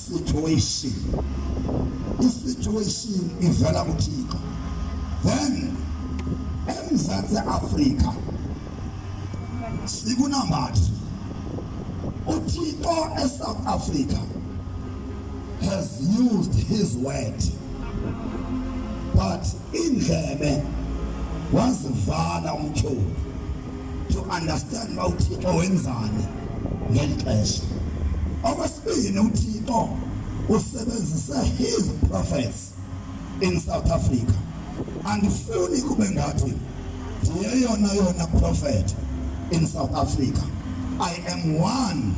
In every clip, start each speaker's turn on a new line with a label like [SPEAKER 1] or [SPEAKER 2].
[SPEAKER 1] situation i-situation ivela kuthixo then emzantsi afrika sikunambathi uthixo esouth africa has used his word but indlebe wazivala umtyholi to understand uba uthixo wenzani ngeli xesha okwesibini uthixo usebenzise his prophets in south africa andifuni kube ngathi ndiyeyona yona prophet in south africa i am one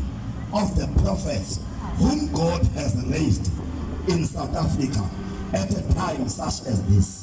[SPEAKER 1] of the prophets whom god has raised in south africa at a time such as this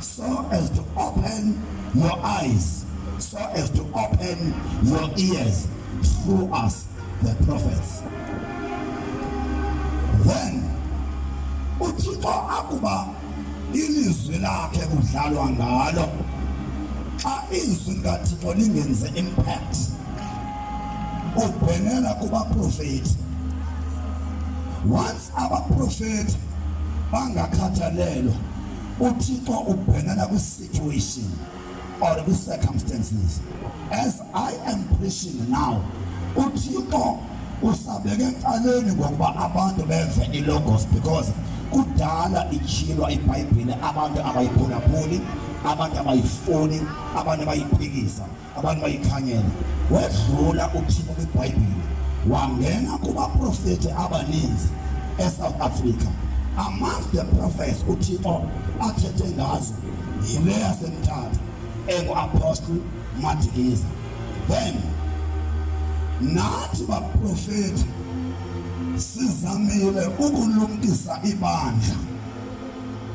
[SPEAKER 1] so as to open your eyes, so as to open your ears through us, the prophets. Then, uThixo akuba ilizwi lakhe kudlalwa ngalo xa izwi likaThixo lingenze impact ubhenela kubaprofeti once abaprofeti bangakhathalelwa uthixo ubhenana kwisituation or kwi-circumstances as i am preaching now uthixo usabeke ecaleni ngokuba abantu beve ilogos because kudala ityhilwa ibhayibhile abantu abayiphulaphuli abantu abayifuni abantu abayiphikisa abantu bayikhanyela wedlula uthixo kwibhayibhile wangena kubaprofeti abaninzi esouth africa amongst the prophets uthixo athethe ngazo yile yasemthatha enguapostoli madikiza then nathi baprofeti sizamile ukulumkisa ibandla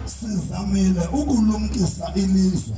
[SPEAKER 1] sizamile ukulumkisa ilizwe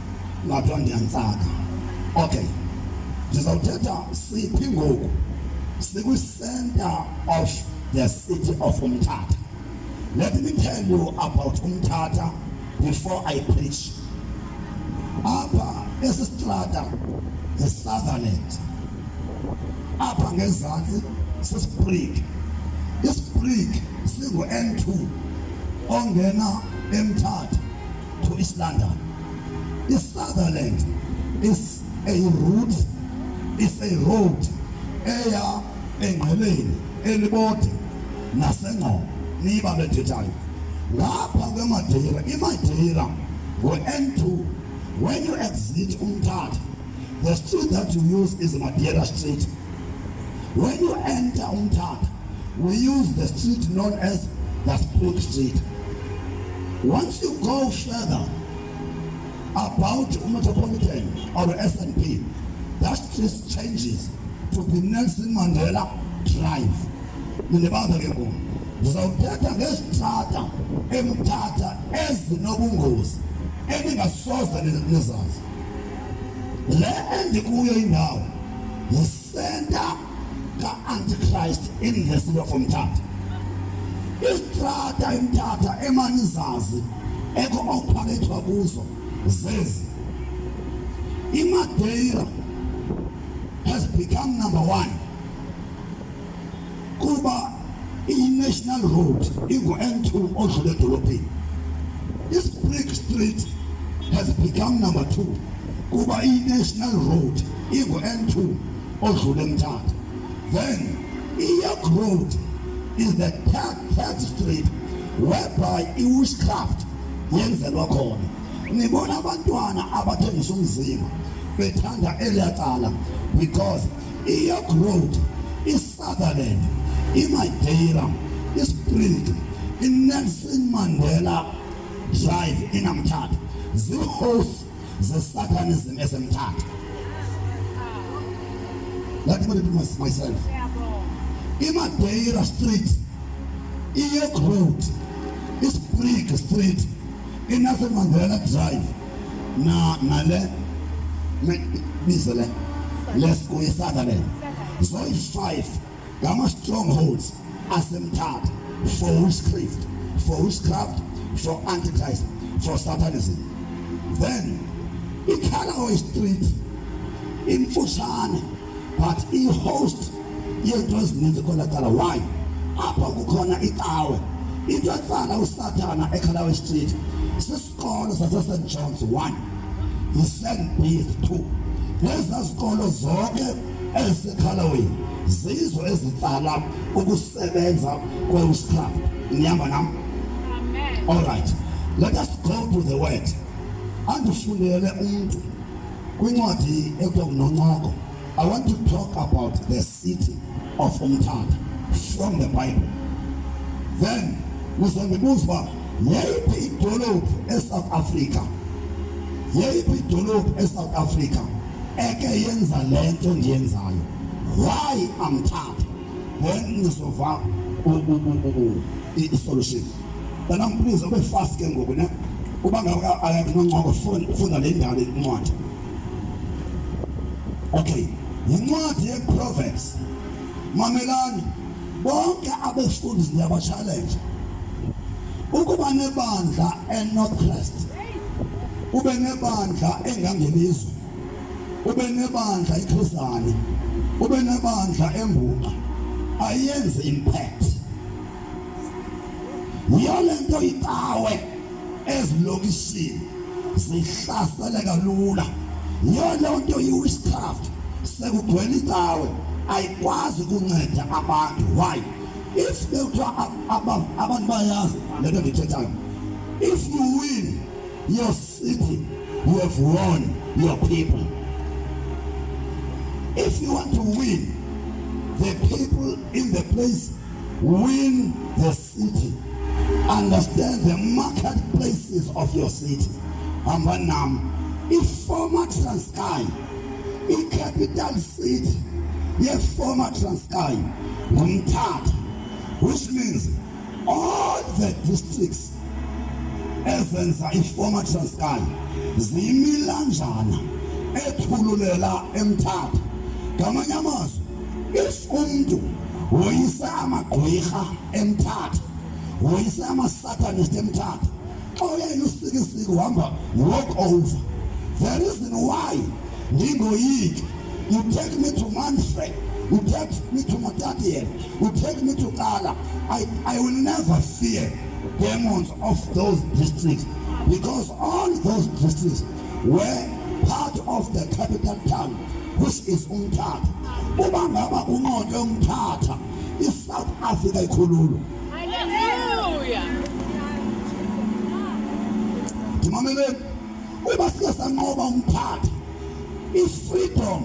[SPEAKER 1] ngathiwa ndiyantsaka okay ndizawuthetha siphi ngoku sikwi-center of the city of umthatha let me tell you about umthatha before i preach apha esi strata yisutherland apha ngezantsi sisibrik isibrik singu-n two ongena emthatha to East London. East Sutherland is a route, is a road eya engqeleni elibode nasengqo niba bethethayo ngapha kwemadira imadira ngo-n2 when you exit umthatha the street that you use is madira street When you enter Umtata, we use the street known as the Spring Street. Once you go further about Metropolitan or SNP, that street changes to be Nelson Mandela Drive. Nilibamba ke kum. Ndizawuthetha ngezitrata emthatha ezinobungozi endingasoze nizazi. Le endikuyo indawo Yisenta ka-antichrist investment of umthatha isitrata imthatha emanizazi ekho okuphakethwa kuzo zezi imadeira has become number one kuba iyi-national road ingu-n two odlula edolophini isbrick street has become number two kuba iyi-national road ingu-n two odlula emthatha then iyak road is the third, third street whereby i-wishcraft yenzelwa khona nibona abantwana abathengisa umzimba bethanda eliya cala because iyork road isutherland imadeira isprit inelson mandela drive inamthatha ziihosi zesatanism esemthatha Let me repeat myself. Imadeira Street, Iyok Road, Spring Street, Nelson Mandela Drive. na nale bize le let's go Saturday so five ngama strongholds asemthatha for witchcraft for witchcraft for antichrist for satanism then ikhalawe street imfushane but i-host yento ezininzi konakala why apha kukhona icawe into etsala usathana ekhalawe street Isikolo saseSt John's 1 yiSt Bees 2 nezaa zikolo zonke ezisekhalaweni zizo ezitsala ukusebenza kwewitchcraft nihamba nam all right let us go to the word andifundele umntu kwincwadi ekuthiwa ngunoncoko I want to talk about the city of Umtata from the Bible. Then ngize ngibuze uba yeyiphi idolophu eSouth Africa, yeyiphi idolophu eSouth Africa eke yenza le nto ndiyenzayo. Why Umtata? Then ngizova i-solution. Bana please ube fast ke ngoku ne. Uba ngaba akakunoncoko funda le ndaba incwadi. Okay, yincwadi yeProverbs. Mamelani bonke abefundi ndiyabatshalenje ukuba nebandla eNorth Crest ube nebandla engangelizwe ube nebandla ikhuzane ube nebandla embuqa ayenzi impact yona nto icawe ezilokishini zihlaseleka lula yiyo loo nto yi-witchcraft sekugcwele icawe ayikwazi ukunceda abantu why if bekuthiwa abantu bayazi le nto ndithethayo if you win your city you have won your people if you want to win the people in the place win the city understand the market places of your city hamba nam iformer transky icapital city yeformer transky ngumthatha which means all the districts ezenza iformer transky ziyimilanjana ethululela emthatha ngamanye amazwi if umntu woyisa amagqwirha emthatha woyisa amasatanist emthatha xa uyayena usikisiki uhamba walk over the reason why ndingoyiki you take me to manfrey you take me to matatiel you take me to kala I, i will never fear demons of those districts because all those districts where part of the capital town which is umthatha uba ngaba unqoke umthatha isouth africa ikhululwa ndimameleni uba sike sanqoba umthatha ifreedom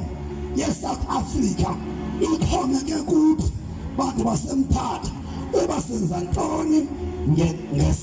[SPEAKER 1] yesouth africa ixhomeke kuthi bantu basemthatha uba senza ntoni nges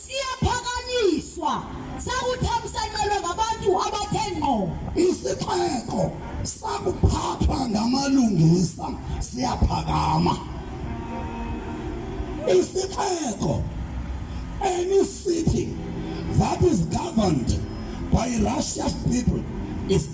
[SPEAKER 2] Siyaphakanyiswa
[SPEAKER 1] sakuthamsanqelwa ngabantu abathe ngqo. Isixeko sakuphathwa ngamalungisa siyaphakama. Isixeko any city that is governed by Russia's people is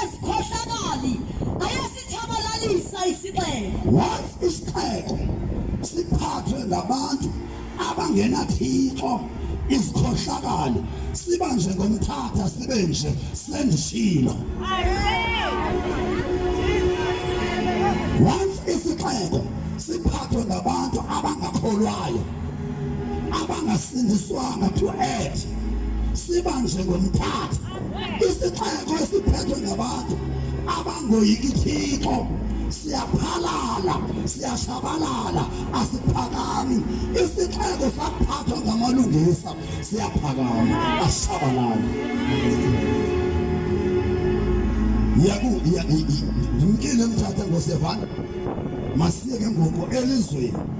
[SPEAKER 1] esikhohlakali ayasitshabalalisa isixeko once isixeko siphathwe ngabantu abangenathixo izikhohlakali siba nje ngomthatha sibe nje sendishilo once isixeko siphathwe ngabantu abangakholwayo abangasindiswanga to add siba nje ngomthatha isixeko esiphethwe ngabantu abangoyiki thixo siyaphalala siyashabalala asiphakami isixeko saphathwa ngamalungisa siyaphakama ashabalala yamkile mthatha ngosevana masiye ke ngoku elizweni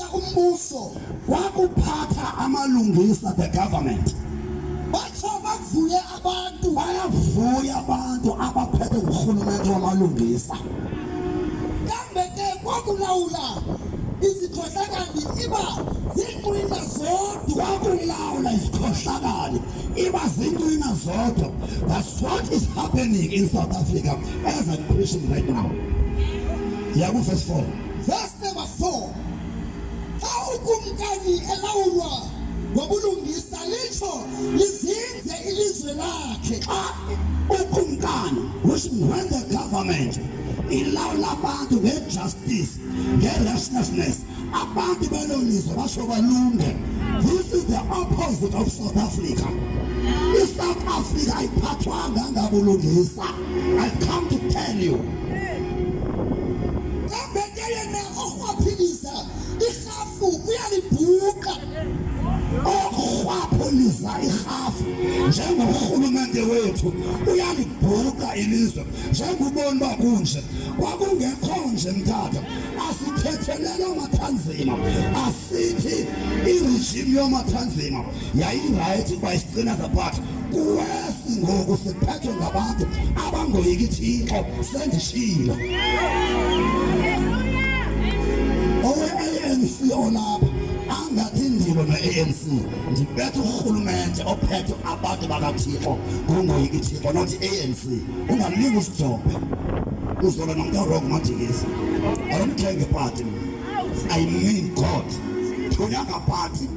[SPEAKER 3] umbuso wakuphatha
[SPEAKER 1] amalungisa the government batsho
[SPEAKER 3] bavuye abantu bayavuya
[SPEAKER 1] abantu abaphethe ngurhulumente wamalungisa
[SPEAKER 3] kambe ke kwakulawula izikhohlakali iba ziinqwina zodwa kwakulawula
[SPEAKER 1] izikhohlakali iba ziinqwina zodwa that's what is happening in south africa as i'm preaching right now yaku verse 4 Verse
[SPEAKER 3] number 4. Xa ukumkani elawulwa ngobulungisa litsho lizinze ilizwe lakhe. Xa
[SPEAKER 1] ukumkani which when the government ilawula abantu ngejustice ngerighteousness abantu belo lizwe basho balunge this is the opposite of south africa isouth africa ayiphathwanga ngabulungisa i come to tell you njengorhulumente wethu uyalibhuka ilizwe njengubona uba kunje kwakungekho nje mthatha asithethelele omathanzima asithi irijim yomathanzima yayirayithi uba isigcina zaphatha kuwesi ngoku siphethwe ngabantu abangoyiki thixo sendishilo owe-anc olapha angathi ndilo ne-anc ndibetha urhulumente ophethe abantu bakathixo ngongoyiki thixo nothi i-anc ungamlingi usidobhe uzola nomntu arongo madikisi alomthenge pati mna i mean god thunyanga pati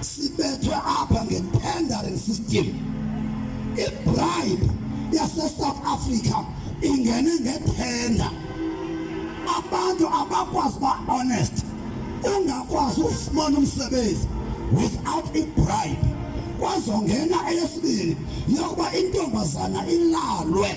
[SPEAKER 1] sibethwe apha nge-tendering system ibribe yasesouth africa ingene ngethenda abantu abakwazi uba honest ungakwazi ufumana umsebenzi without ibribe kwazongena eyesibili yokuba intombazana ilalwe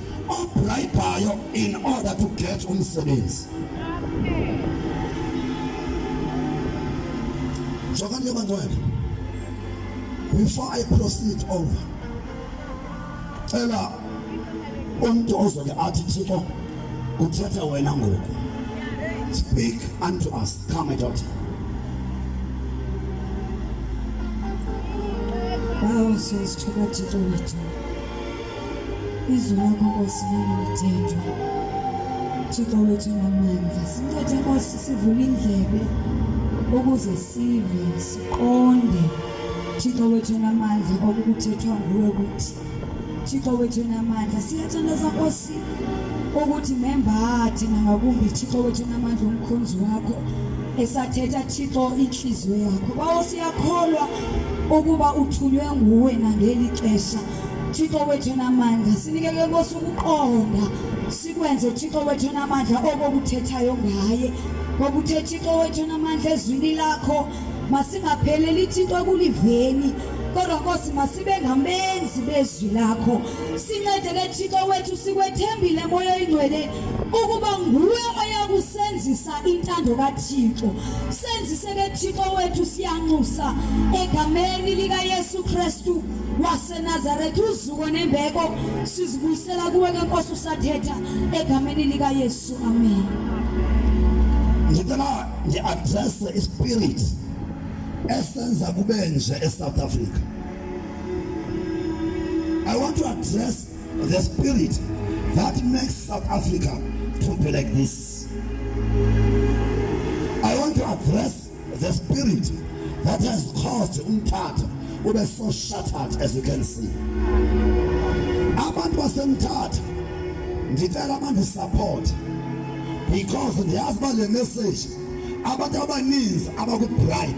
[SPEAKER 1] obrayibhayo in order to get umsebenzi jokani ke bantwana before i proceed over cela umntu ozoke athi thixo uthethe wena ngoku speak unto us come daughter Wow,
[SPEAKER 2] since 2022. Izwi lakho Nkosi lilithetho Thixo wethu namandla sicothe Nkosi sivule indlebe ukuze sive siqonde Thixo wethu namandla okukuthethwa nguwe ukuthi Thixo wethu namandla siyathandaza Nkosi ukuthi membathi nangakumbi Thixo wethu namandla umkhonzi wakho esathetha Thixo inhliziyo yakho bawo siyakholwa ukuba uthunywe nguwe nangeli xesha Thixo wethu namandla sinike ke Nkosi ukuqonda sikwenze Thixo wethu namandla oko kuthethayo ngaye ngokuthe Thixo wethu namandla ezwini lakho masingapheleli Thixo kuliveni kodwa Nkosi masibe ngamenzi bezwi lakho sincede ke Thixo wethu sikwethembile moya oyingcwele ukuba nguwe oyakusenzisa intando kaThixo senzise ke Thixo wethu siyanxusa egameni lika Yesu Kristu wasenazaretha uzuko nembeko sizibuyisela kuwe ke nkosi usathetha egameni likayesu amen
[SPEAKER 1] ngicela
[SPEAKER 2] ngi-adresse
[SPEAKER 1] ispirit esenza kube nje esouth africa i want to address the spirit that makes south africa to be like this i want to address The spirit that has caused umthatha ube so shattered as you can see. Abantu basemthatha ndicela bandisupport because ndiyazi uba le message abantu abaninzi abakubribe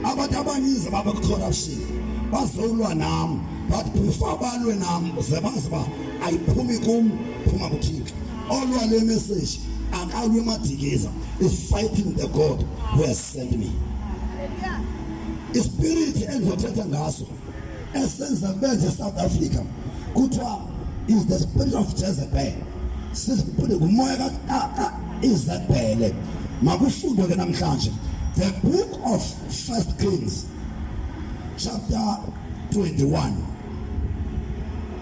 [SPEAKER 1] abantu abaninzi ababakucorruption bazowulwa nam but before balwe nam ze bazi uba ayiphumi kum phuma kuthixo olwa le message akalwe madikiza is fighting the god who has sent me ispirit endizothetha ngaso esenza benze esouth africa kuthiwa is the spirit of jezebel siziphinde ngumoya kaizebhele makufundwe ke namhlanje the book of first kings chapter 21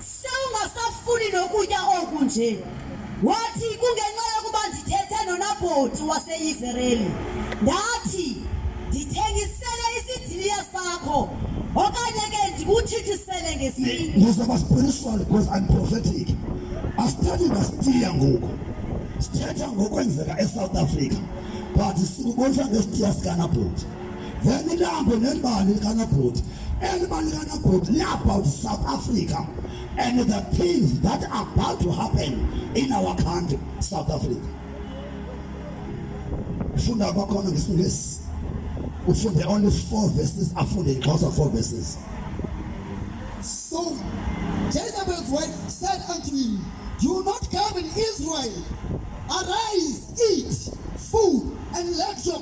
[SPEAKER 2] Sewungasafuni nokutya oku nje wathi kungenxa yokuba ndithethe nonabhoti waseyisraeli ndathi ndithengisele isidiliya sakho okanye ke ndikuthithisele ngesinye ndizaba spiritual
[SPEAKER 1] because i'm prophetic asithathi ngasitiya ngoku sithetha ngokwenzeka esouth africa but sikubonisa ngesitiya sikanabhoti then ilambe nembali likanabhuti eli bali likanabhuti liyabout south africa and the things that are about to happen in our country south africa funda kwakhona ngesingesi ufunde only four verses afunde ixhosa four verses
[SPEAKER 3] so jezebel's wife said unto him you not come in israel arise eat food and let your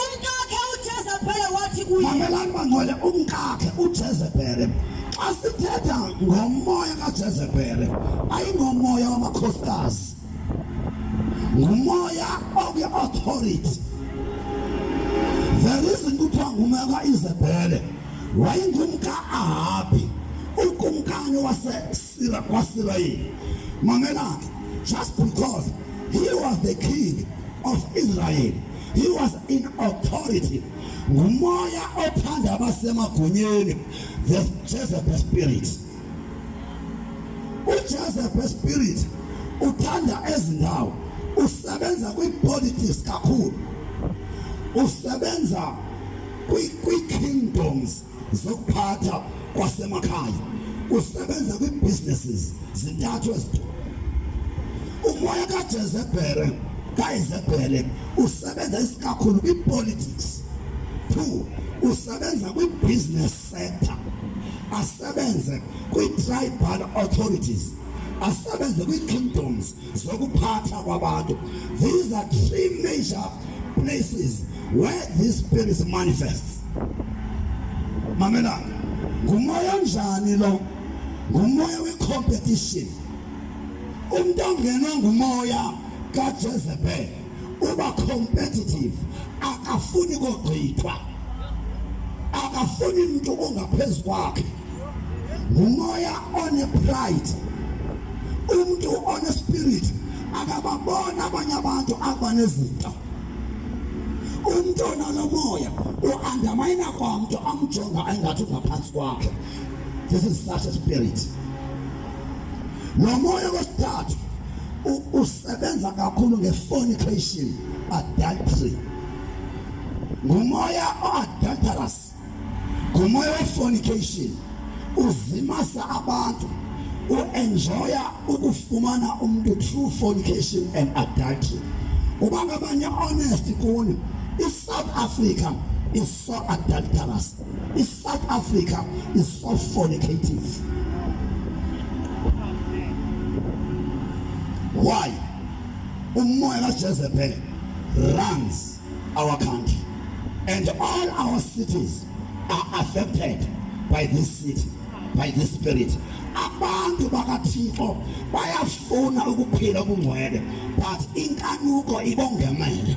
[SPEAKER 2] umkakhe ujezebhele wathi kuye mamelani bangcwele
[SPEAKER 1] umkakhe ujezebhele xa sithetha ngomoya kajezebhele ayingomoya wamakhosikazi ngumoya okwi-authority there isn't kuthiwa ngumoya ka-izebhele wayengumka ahabi ukumkani wase Sila kwa sila hii mamela, just because he was the king of Israel he was in authority, ngumoya othanda abasemagunyeni, the Jezebel spirit. UJezebel spirit uthanda ezi ndawo, usebenza kwipolitics kakhulu, usebenza kwi-kingdoms zokuphatha kwasemakhaya usebenza kwi-businesses zintathu ezinto umoya kajezebhere kayizebhele usebenza isikakhulu kwi-politics two usebenza kwi-business sector asebenze kwi-tribal authorities asebenze kwi-kingdoms zokuphatha kwabantu. These are three major places where this spirit manifests. Mamela, ngumoya njani lo? Ngumoya we competition. Umntongena ngumoya kaJezebel. uba competitive, akafuni kogqithwa, akafuni mntu ongaphezu kwakhe. Ngumoya onepride, umntu onespirit akababona abanye abantu abanezinto. Umntu onalo moya uandamayina kwa mntu amjonga engathi ungaphantsi kwakhe. This is such a spirit. Lo moya wesithathu sebenza kakhulu ngefornication adultery ngumoya oadulterous ngumoya wefornication uzimasa abantu uenjoya ukufumana umntu through fornication and adultery uba ngabanye honest kuni isouth africa is so adulterous I-South Africa is so fornicative. Why? Umoya kaJezebel runs our country and all our cities are affected by this city by this spirit abantu bakathixo bayafuna ukuphila ubungcwele but inkanuko ibongemele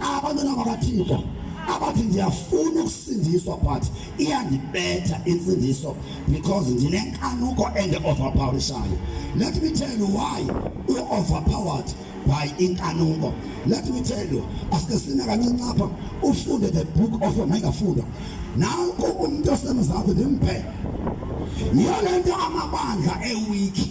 [SPEAKER 1] abantwana bakathixo abathi ndiyafuna ukusindiswa but iyandibetha insindiso because ndinenkanuko endi-overpowerishayo let me tell you why u-overpowered by inkanuko let me tell you asike sime kancinci apha ufunde the book of mayingafundwa nanku umntu osemzantsi ndimphe yiyo le nto amabandla ewiki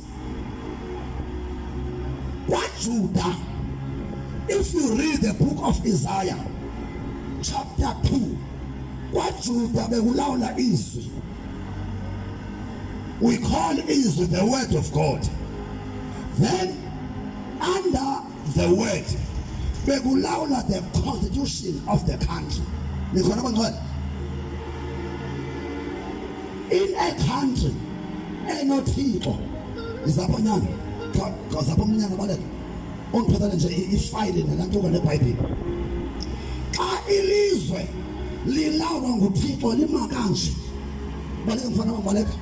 [SPEAKER 1] KwaJuda, if you read the book of Isaiah chapter 2, KwaJuda bekulawula izwi. We call izwi the word of God. Then under the word bekulawula the constitution of the country nikhona bangcwele in a country enothixo izabonyana zabomnyana baleka ongiphathane nje ifayile nelantuka nebhayibhile xa ilizwe lilawulwa nguthixo lima kanje baleka mfana wam baleka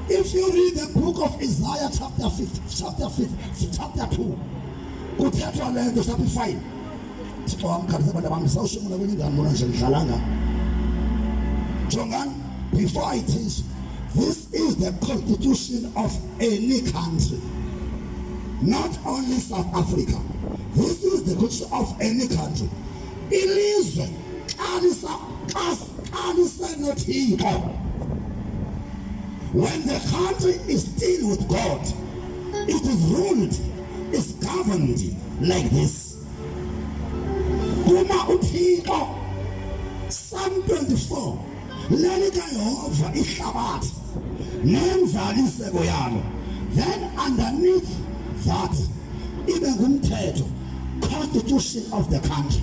[SPEAKER 1] if you read the book of isaiah chapter 5 chapter 5 Chapter 2 kuthethwa le nto saphi fayile thixo wamkhalisa bantu bam sawushumula kwenye ingane bona nje ndidlalanga jongani before i teach this is the constitution of any country not only south africa this is the constitution of any country ilizwe xa alusenothingo when the country is still with God it is ruled is governed like this kuma uthixo psalm 24 lelikayehova ihlabathi nenzaliseko yalo then underneath that ibe ngumthetho constitution of the country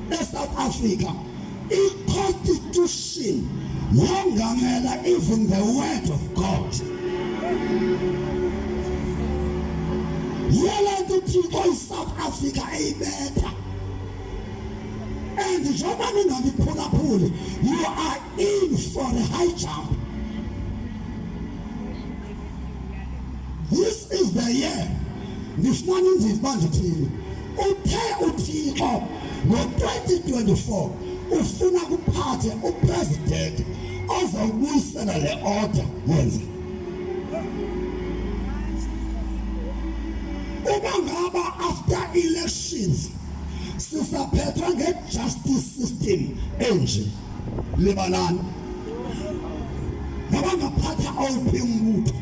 [SPEAKER 1] eSouth Africa iconstitution yongamela even the word of God yela nto uthixo isouth africa eyibetha and njengoba ningabiphulaphuli you are in for a high jump This is the year ndifumana inzima uba ndithini uthe uthixo ngo-2024 ufuna kuphathe uprezidenti ozawubuyisela le order yenza uba ngaba after elections sisaphethwa nge-justice system enje libalani mabangaphatha awuphi umbutho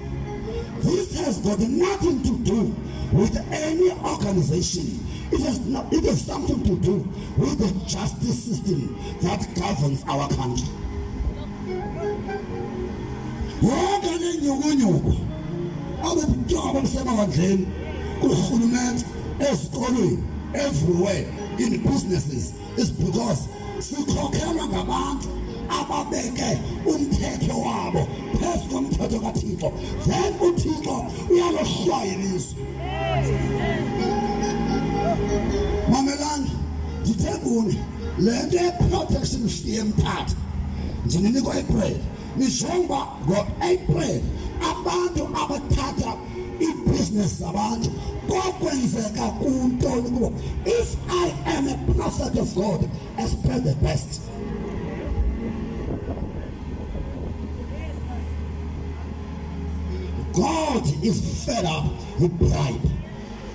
[SPEAKER 1] this has got nothing to do with any organization it has, no, it has something to do with the justice system that governs our country yonke le nyukunyuku abo butyoka babusemawandleni kurhulumente ezikolweni everywhere in businesses is because sikhokelwa ngabantu ababeke umthetho wabo phezu komthetho kaThixo then uThixo uyalohlwaya ilizwe mamelani ndithe kuni le nto ye-protection fee emphatha ndininikwa ibrele nijonga ngo-april abantu abathatha ibhizinesi zabantu kokwenzeka kuntoni kubo if i am a prophet of god expect the best god is fed up with pride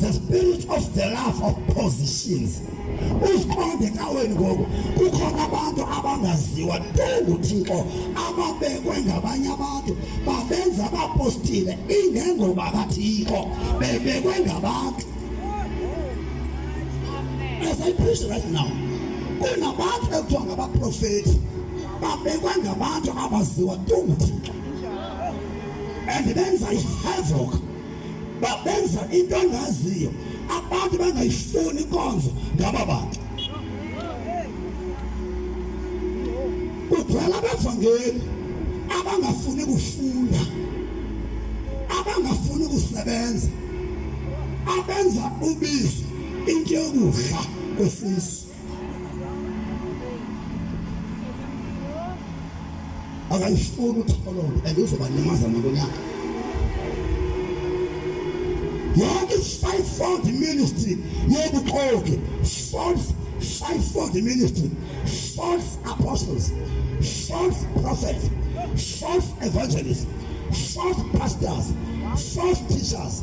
[SPEAKER 1] the spirit of the love of positions usiqonde caweni ngoku kukhona abantu abangaziwa nto nguthixo ababekwe ngabanye abantu babenza abapostile ingengoba kathixo bebekwe ngabantu as i preach right now kunabantu ekuthiwa ngabaprofeti babekwe ngabantu abaziwa nto nguthixo and benza ihavoc babenza into angaziyo abantu bangayifuni inkonzo ngaba bantu kugcwala abavangeli abangafuni kufunda abangafuni kusebenza abenza ubizo into yokudla kwesizwe akayifuni uthakololo and uzobalimaza nokonyaka yonke i-fivefold ministry yobuxoki false fivefold ministry false apostles false prophets false evangelists false pastors false teachers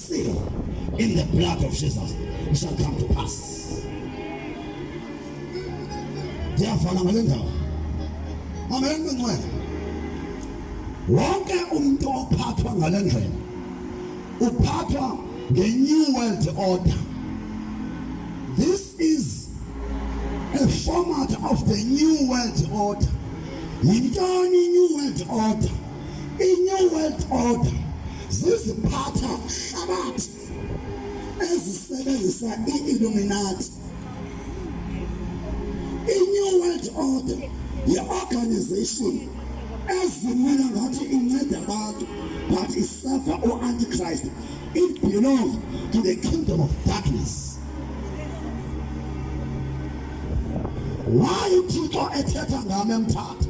[SPEAKER 1] Seal in the blood of Jesus it shall come to pass. Ndiyafana ngale ndawo. Amen mncwele. Wonke umuntu ophathwa ngale ndlela uphathwa nge-new world order. This is a format of the new world order. Yintoni new world order? I-New World Order ziziphatha hlabathi ezisebenzisa i-Illuminati. I-New World Order yi-organization ezimela ngathi inceda abantu but iseva u-antichrist it belongs to the kingdom of darkness why uthixo ethetha ngam emthatha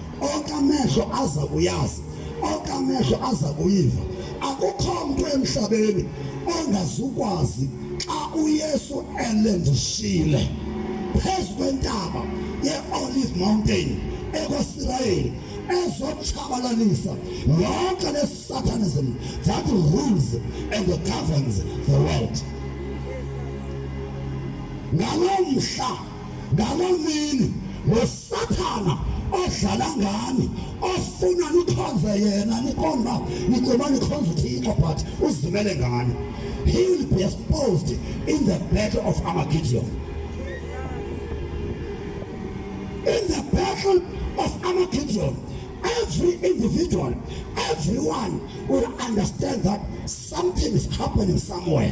[SPEAKER 1] okamehlo aza kuyazi okamehlo aza kuyiva akukho mntu emhlabeni ongazukwazi xa uyesu elendishile phezu kwentaba ye-olive mountain ekosirayeli ezotshabalalisa yonke le satanism that rules and governs the world ngaloo mhla ngaloo mini nosathana odlala ngani ofuna nikhonze yena nikonda nigoma nikhonza uthixo but uzimele ngani he will be exposed in the battle of armageddon in the battle of armageddon every individual everyone will understand that something is happening somewhere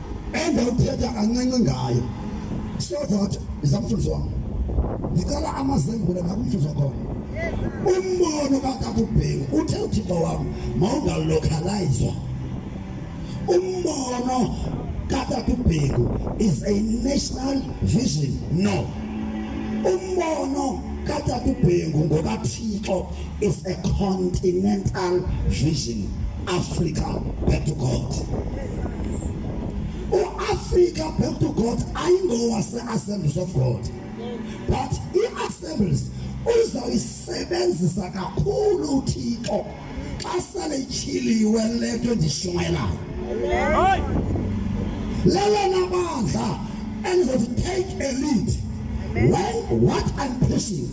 [SPEAKER 1] enza uthetha kancinci ngayo so that izamfundisi wam ndicela amazembule nakumfundisi wakhona umbono kakakubhengu uthe uthixo wam mawungalokhalayizwa umbono kakakubhengu is a national vision no umbono katata ubhengu ngokathixo It's a continental vision. Africa back to God. U-Africa back to God ayingowase-Assemblies of God. But i-Assemblies uzawuyisebenzisa kakhulu uThixo xa sele ityhiliwe le nto endishumayelayo. Lelona bandla and they take a lead when what I'm pushing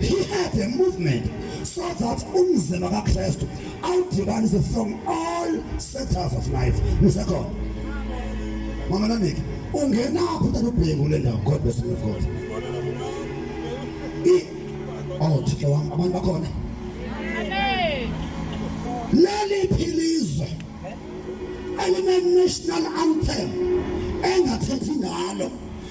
[SPEAKER 1] He had a movement so that umzimba kaKristu awudibanise from all sectors of life. Nisekhona. Mama nanike. Ungenaphi utata ubhengu le ndawo God bless you of God. I Oh, Thixo wam abantu bakhona. Amen. Leliphi lizwe eline national anthem engathethi ngalo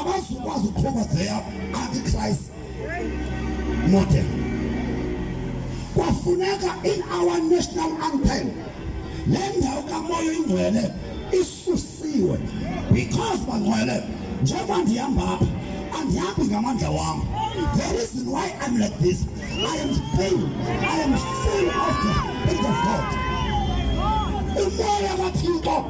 [SPEAKER 1] abazukwazi ukuqhuba their antichrist model kwafuneka in our national anthem le ndawo kamoya ingcwele isusiwe because bangcwele njengoba ndihamba apha andihambi ngamandla wam the reason why i'm like this i am pain i am full of the spirit of god umoya kathixo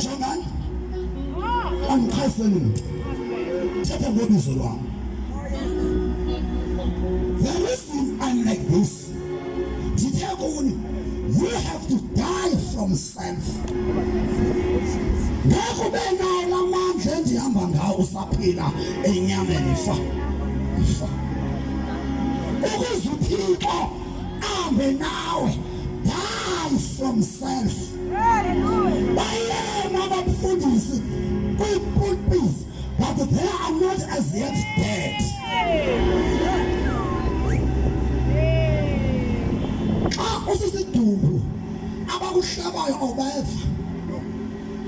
[SPEAKER 1] Jongani, angikhahleni mntu, thetha ngobizo lwam. There is unlike this. Ndithe kuni, you have to die from self. Ngeke ube nawo la mandla endihamba ngawo usaphila enyameni fa. Fa. Ukuze uThixo ahambe nawe die from self. Bayena abafundisi kwi-pulpit but they are not as yet dead. Xa usisidumbu abakuhlabayo awubeva,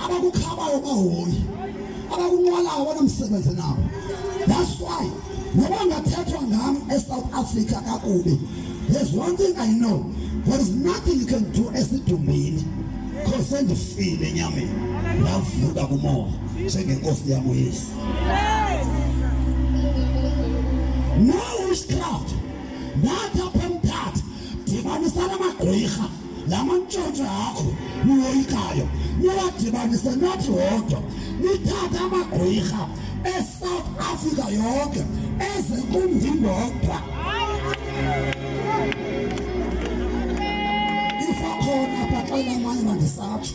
[SPEAKER 1] abakukhabayo bahoyi, abakunqwalayo banomsebenzi nabo. That's why Nobangathethwa ngam eSouth Africa kakubi. There's one thing I know. There is nothing you can do esidumbini. Kho sendifile enyameni. Ndavuka kumoya njengenkosi yam uYesu. Now witchcraft. That dibanisa la magqwirha la mantshontsho akho niwoyikayo niwadibanise nathi wodwa nithathe amagqwirha esouth africa yonke eze kumndindodwa ifakhona baxela manye bandisatsho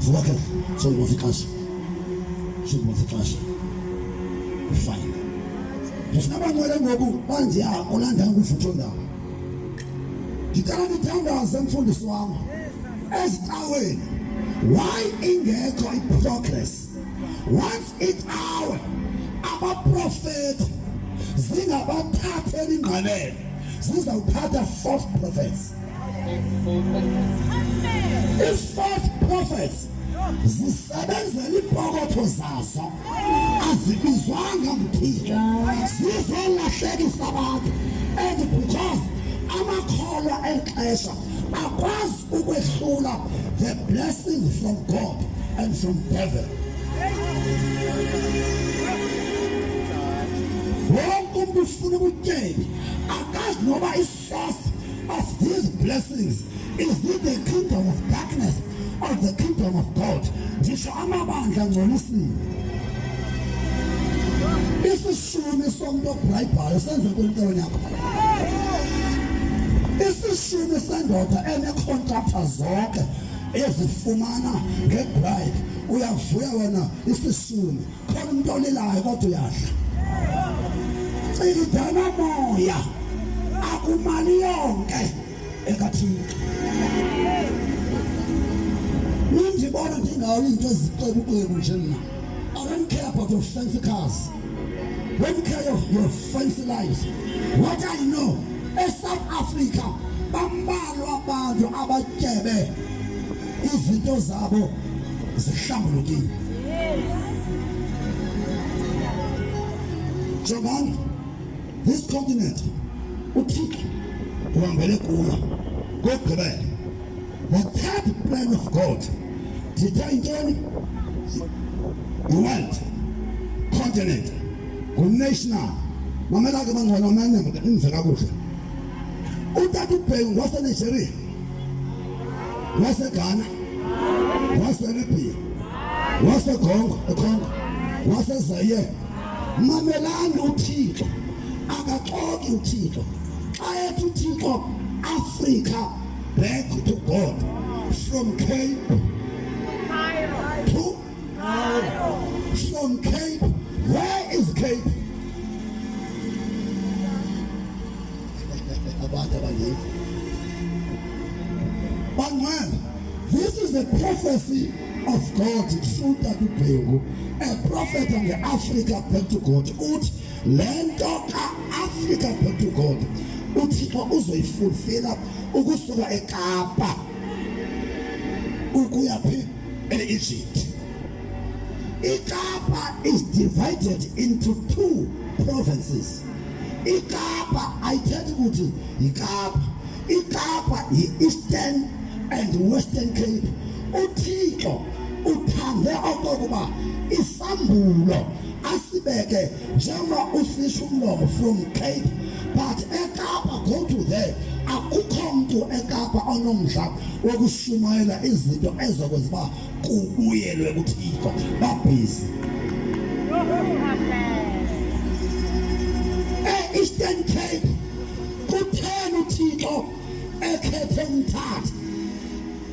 [SPEAKER 1] Fuwake, so you want to cash. So you want to cash. Fine. Ndifuna banqwele ngoku bandiya olanda nguvutho ndawo. Ndicela nithandaze mfundisi wam. Ezicaweni. Why ingekho i-progress? Once it hour abaprofeti zingabathatheli ingqalelo zizawuthatha false prophets Ii-false prophets zisebenzela iipokotho zazo azibizwanga mthixo zizolahlekisa abantu and because amakholwa eli xesha akwazi ukwehlula the blessing from god and from devil wonke umuntu ufuna ubutyebi akazi noba Source of these blessings is in the kingdom of darkness or the kingdom of God. Ndisho amabandla ngcolisile. Isishumi somntu obhrayibhayo senze kwinto yakho. Isishumi sendoda enekhontrakta zonke ezifumana ngebride uyavuya wena isisulu khona umntu olelayo kodwa uyadla cilidana moya akumali yonke ekathixo nindibona ndingawo iinto ezixebuxebu nje mna i don't care about your fancy cars don't care your, your fancy lives what i know esouth africa bambalwa abantu abatyebe izinto zabo zihlambulukile jongani this continent uthixo uhambele kuyo kogqibele the third plan of god ndithe intoni world continent ngunational mamela ke bangcono mane ndizela kuhle utata ubheki ngwasenigeria waseGhana waseLibya waseGongo eCongo waseZaire mamelani uThixo akaxoki uThixo xa ethi uThixo Africa back to God from Cape to From Cape, where is Cape? Abantu abakithi. Bangani, this is a prophecy of God through Tata Bhengu, a prophet on the Africa back to God. Uthi le nto ka-Africa back to God uthixo uzoyifulfila ukusuka ekapa ukuya phi e-Egypt. IKapa is divided into two provinces. IKapa ayithethi ukuthi yiKapa. IKapa yi-Eastern and Western Cape. UThixo uthande okokuba isambulo asibeke Njengoba ufish umlomo from Cape but eKapa go to there akukho mntu eKapa onomdla wokushumayela izinto ezokwenza uba kubuyelwe kuthixo babhizi e-eastern cape kutheni uthixo ekhethe umthatha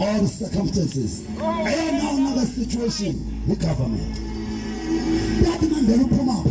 [SPEAKER 1] all circumstances eyona unaka situation yigovernment ndathi mandela uphuma pho